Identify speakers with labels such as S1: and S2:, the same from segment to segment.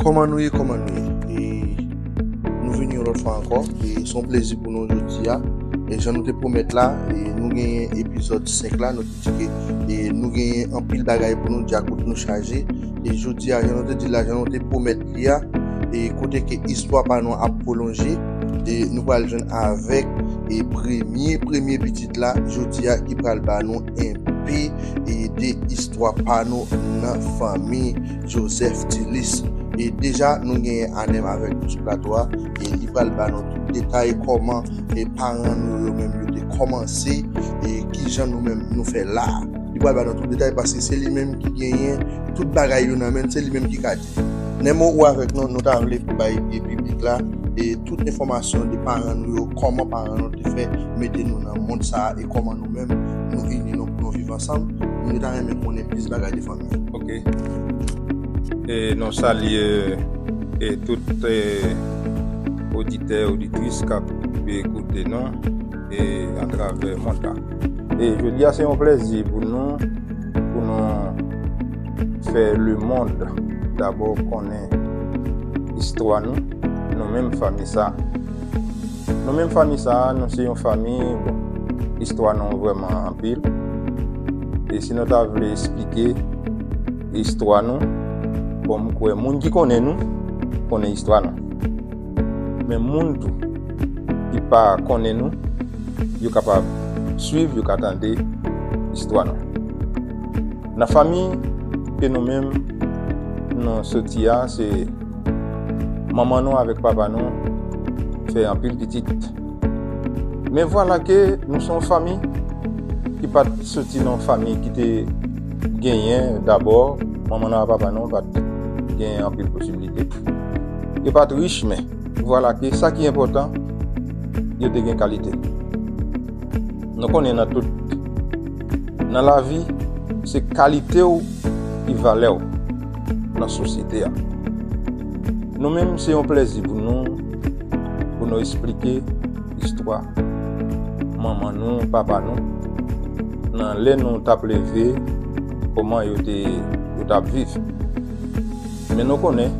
S1: Kòman nou ye kòman nou ye e nou vini yon lòt fwa ankò e son plezi pou nou jodi a e jan nou te pwomèt la e nou genyen epizòd 5 la nou Paske e nou genyen anpil bagay pou nou di ak kote nou chaje. E jodi a, jan nou te di la, jan nou te pwomèt li a, e kote ke istwa pa nou ap pwolonje, e nou pral jwenn avèk e premye premye pitit la jodi a ki pral ba nou enpe e de istwa pa nou nan fanmi Joseph Thilis. E deja nou genyen Anem avèk nou sou plato a. e li pral ba nou tout detay kòman e paran nou yo menm yo te kòmanse e kijan nou menm nou fè la li pral ba nou tout detay paske se li menm ki genyen tout bagay yo nan menl se li menm ki ka di men mo ou avèk nou nou ta vle pou bay e piblik la e tout enfòmasyon de paran nou yo kòman paran nou te fè mete nou nan mond sa e kòman nou menm nou ini nou pou nou viv ansanm nou ta renmen konnen plis bagay de fanmi.
S2: E non salye e tout oditè oditris kap be koute non e antrave monta. E je di a se yon plezi pou nou pou nou fè le mond dabo konen istwa nou nou menm fami sa. Nou menm fanmi sa a, nou se yon fanmi, bon, istwa nou vrèman anpil. E si nou ta vle esplike istwa nou, bon, m kwè moun ki konnen nou, konnen istwa nou. Men moun tou, ki pa konnen nou, yo kapab swiv, yo ka tande istwa nou. Nan fanmi ke nou menm nou soti a, se. Manman nou avèk papa nou fè anpil pitit. Men vwala ke nou son fami ki pat soti nan fami ki te genyen dabò, manman nou avèk papa nou pat genyen anpil posibilite. Yo pat rich men, vwala ke sa ki enpòtan, yo te gen kalite. Nou konnen nan tout, nan lavi, se kalite ou ki valè ou. nan sosyete a. Nou menm se yon plezi pou nou pou nou esplike istwa manman nou, papa nou nan lè nou tap leve koman yo te yo tap viv. Men nou konnen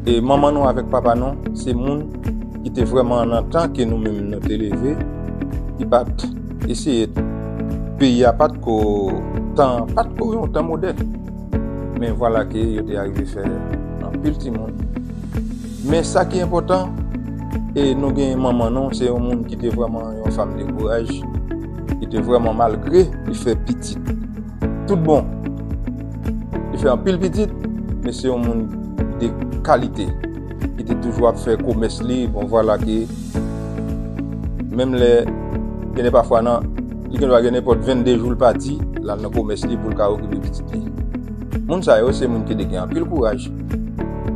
S2: e manman nou avèk papa nou se moun ki te vreman nan tan ke nou menm nou te leve ki pat eseye peyi a pat ko tan pat ko yon tan modèn. Men vwala ke yo te arive fè anpil timoun. Men sa ki enpòtan, e nou gen manman nou, se yon moun ki te vrèman yon fam de kouraj, ki te vrèman malgre li fè pitit tout bon, li fè anpil pitit, men se yon moun de kalite, ki te toujou ap fè komès li, bon vwala ke menm lè, genlè pafwa nan. Li gen dwa gen nenpòt 22 jou l pati, l al nan komès li pou l ka okipe pitit li. Moun sa yo se moun ki te gen anpil kouraj.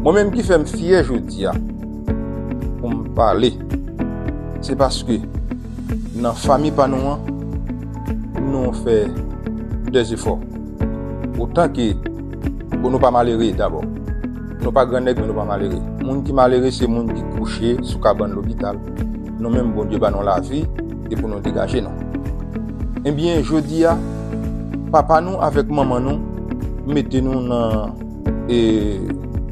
S2: Mwen menm ki fè m fyè jodi a pou m pale, se paske nan fanmi pa nou an, nou fè de zefò. Otan ke, bon nou pa malere dabò. Nou pa gran nèg men nou pa malere. Moun ki malere se moun ki kouche sou kabann lopital. Nou menm Bondye ba nou lavi. e pou nou degaje nou. Ebyen jodi a, papa nou avèk manman nou mete nou nan e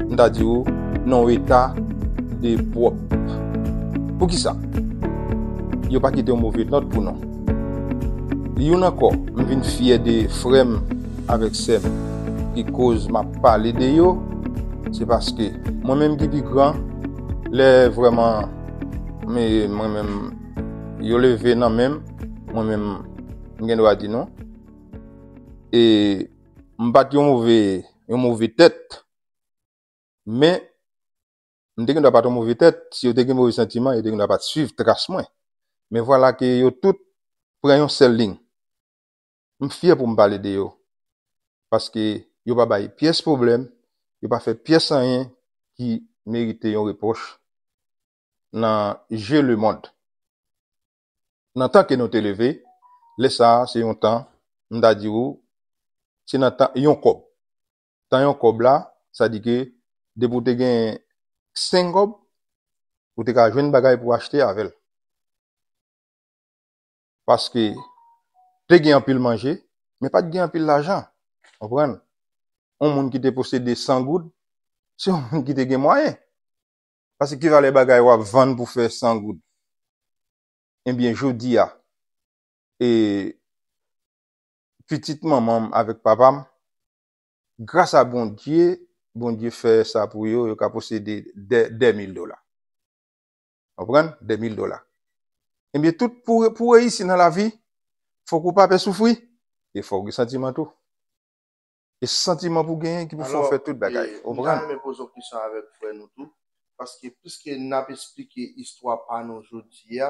S2: m ta di ou nan w eta de pwòp. Poukisa? Yo pa kite yon move nòt pou nou. Youn ankò, m vin fyè de frè m avèk sè m ki koz m ap pale de yo, se paske mwen menm ki pi gran, lè vrèman mwen menm Yo leve nan menm, mwen menm m gen dwa di nou. E m pat yon move, yon move tèt. Men, m te gen dwa pat yon move tèt, si yo te gen move santiman, yo te gen dwa pat swiv tras mwen. Men vwala ke yo tout pran yon sèl ling. M fyè pou m pale de yo. Paske yo pa bay pyès pwoblèm, yo pa fè pyès anyen ki merite yon repwòch. nan je lemond. Nan tan ke nou te leve, lè sa a se yon tan, m ta di ou, se nan tan yon kòb. Tan yon kòb la, sa di ke depi ou te gen 5 kòb, ou te ka jwenn bagay pou achte avè l. Paske te gen anpil manje, men pa t gen anpil lajan. Konprann? Yon moun ki te posede 100 goud, se yon moun ki te gen mwayen. Pase ki valè bagay wap vann pou fè 100 goud. Ebyen jodi a e pitit manman m avèk papa m gras a Bondye, Bondye fè sa pou yo, yo ka posede 2 mil dola. Konprann? 2 mil dola. Ebyen tout pou pou reyisi nan lavi fòk ou pa pè soufri e fòk ou gen santiman tou. E santiman pou genyen ki pou fè w fè tout bagay. Ou konprann? Alò, e m ta renmen poze yon kesyon avèk
S1: frè nou tou, paske piske n ap esplike istwa pa nou jodi a,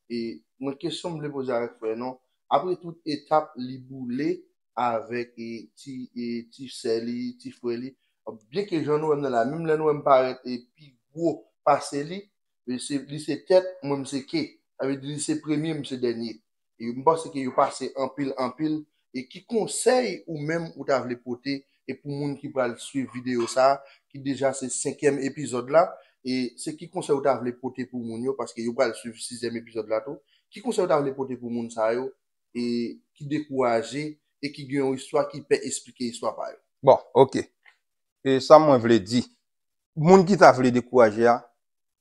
S1: e mwen kesyon m vle poze avèk frè nou, apre tout etap li boule avèk ti ti sè li, ti frè li, byenke jan nou wè m nan la, menm lè nou wè m parèt pi gwo pase li, li se tèt, mwen m se ke. Sa vle di li se premye, m se dènye. e m panse ke yo pase anpil anpil e ki konsèy ou menm ou ta vle pote e pou moun ki pral swiv videyo sa ki deja se senkyèm epizòd la e se ki konsèy ou ta vle pote pou moun yo paske yo pral swiv sizyèm epizòd la tou ki konsèy ou ta vle pote pou moun sa yo e ki dekouraje e ki gen yon istwa ki pè esplike istwa pa yo. Bon ok e
S2: sa mwen vle di moun ki ta vle dekouraje a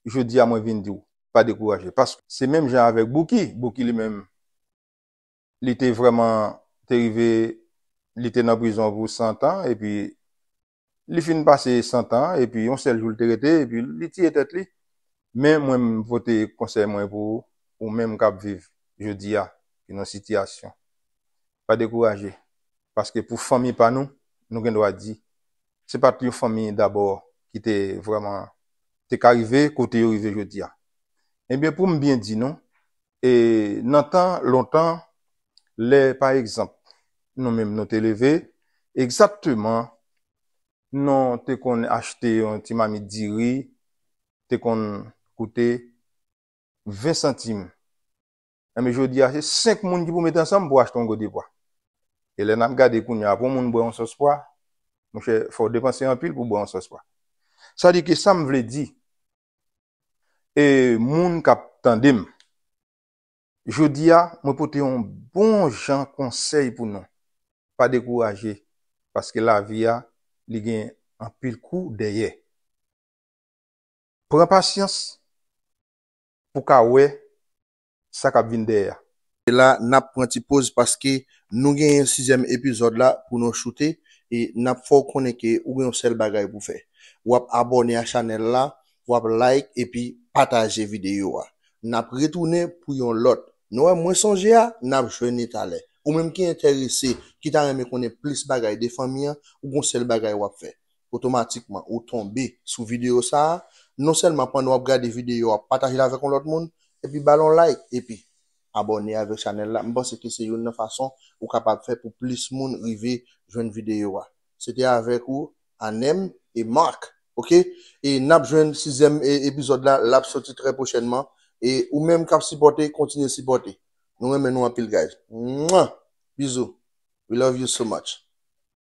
S2: jodi a mwen vin di w pa dekouraje paske se menm jan avèk Bouki, Bouki li menm li te vrèman te rive li te nan prizon pou 100 tan epi li fin pase 100 tan an epi yon sèl jou li te rete epi li tiye tèt li men mwen m pote konsèy mwen pou ou menm k ap viv jodi a ki nan sitiyasyon pa dekouraje paske pou fanmi pa nou nou gen dwa di se pa t yon fanmi dabò ki te vrèman te ka rive kote yo rive jodi a. Ebyen, pou m byen di nou, e nan tan lontan, lè pa egzanp nou menm nou te leve, egzakteman nou te konn achte yon ti mamit diri te konn koute 20 santim. Enben jodi a se 5 moun ki pou met ansanm pou achte yon gode pwa. E lè nap gade kounya pou yon moun bwè yon sòs pwa, monchè fò w depanse anpil pou w bwè yon sòs pwa. Sa di ke sa m vle di e moun kap tande m, jodi a mwen pote yon bon jan konsèy pou nou, pa dekouraje paske lavi a li gen anpil kou dèyè. Pran pasyans pou ka wè sa kap vin dèyè a. E la nap
S1: pran ti poz paske nou genyen sizyèm epizòd la pou nou choute e nap fè w konnen ke ou gen yon sèl bagay pou fè. Wap abòne a chanèl la, wap like epi pataje videyo a. Nap retounen pou yon lòt. Nou wè mwen sonje a, nap jwenn li talè. Ou menm ki entèrese, ki ta renmen konnen plis bagay de fanmi an, ou gen yon sèl bagay wap fè. otomatikman ou tonbe sou videyo sa a, non sèlman pandan wap gade videyo a pataje l avèk yon lòt moun epi ba l yon like epi abòne avèk chanèl la m panse ke se youn nan fason ou kapab fè pou plis moun rive jwenn videyo a se te avèk ou Anem et Marc ok e nap jwenn sizyèm epizòd la lap soti trè pwochènman e ou menm kap sipòte kontinye sipòte nou renmen nou anpil guys mwah bizou we love you so much.